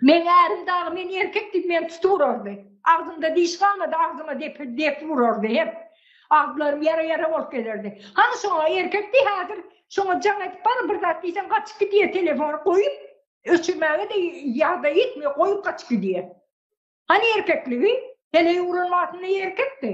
Meň ärim dagy meni erkek diýip meni tutup urardy. Agzymda diş galmady, agzyma depip depip urardy hep. Agzlarym ýara-ýara bolup gezerdi. Hany şoňa erkek diý häzir, şoňa jaň edip baryň bir zat diýseň gaçyp gidýär telefony goýup, öçürmäge-de ýagdaý ýetmeýär, goýup gaçyp gidýär. Hany erkekligi? Heleý uran wagtynda erkekdi.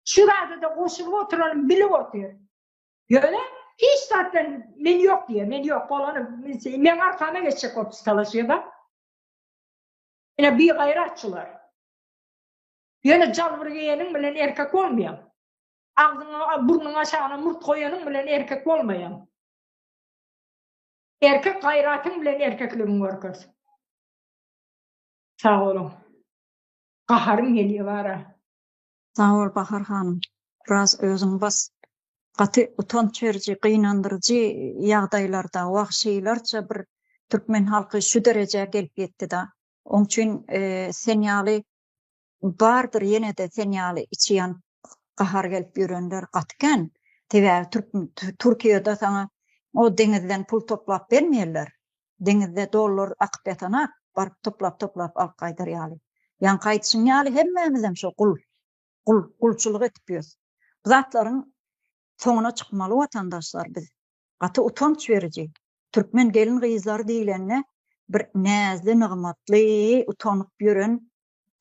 Şu zada-da goşulyp oturalym, bilip otyr. Ýöne hiç zatdan men ýok diýýär, men ýok bolany meň arkama geçjek bolup talaşýar-da. Ine bigaýrat şular. Ýöne jalbur geýeniň bilen erkek bolmaýaň. Agzyňa, burnuňa aşagyna murt goýanyň bilen erkek bolmaýaň. Erkek gaýratyň bilen erkekligiňi görkez. Sag boluň. Gaharym gelýär bara. Sag bol Bahar hanym. Biraz özüňi bas. Gaty utanç beriji, gynandyryjy ýagdaýlarda wagşylarça bir türkmen halky şu derejä gelip ýetdida. Oň üçin sen ýaly bardyr ýenede sen ýaly içi ýanyp gahar gelip ýörenler gaty kän. Sebäbi türk Türkiýede saňa o deňizden pul toplap bermeýärler. deňizde dollar akyp ýatanat, baryp toplap-toplap alyp gaýdar ýaly. Ýaňky aýdyşyň ýaly hemmämizem şo gul, gul, gulçulyk edip ýös. Bu zatlaryň soňuna çykmaly watandaşlar biz. Gaty utanç beriji. Türkmen gelin-gyzlary diýlende bir näzli nygmatly utanyp ýören,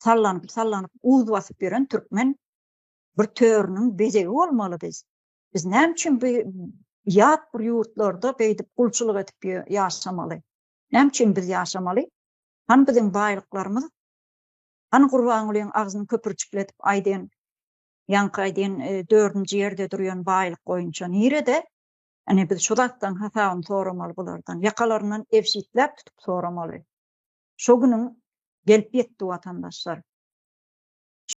sallanyp-sallanyp uz basyp ýören türkmen bir törüniň bezegi bolmaly biz. Biz näme üçin bu ýat bir ýurtlarda beýdip gulçulyk edip ýaşamaly? Näme üçin biz ýaşamaly? Hany biziň baýlyklarymyz? Hany Gurbangulyň agzyny köpürjikletip aýdan, ýaňky aýdan e, dördünji ýerde durýan baýlyk boýunça nirede? Ine biz şu zatdan hasabyny soramaly bulardan. Ýakalaryndan ebşitläp tutup soramaly. Şu günüň gelip ýetdi watandaşlar.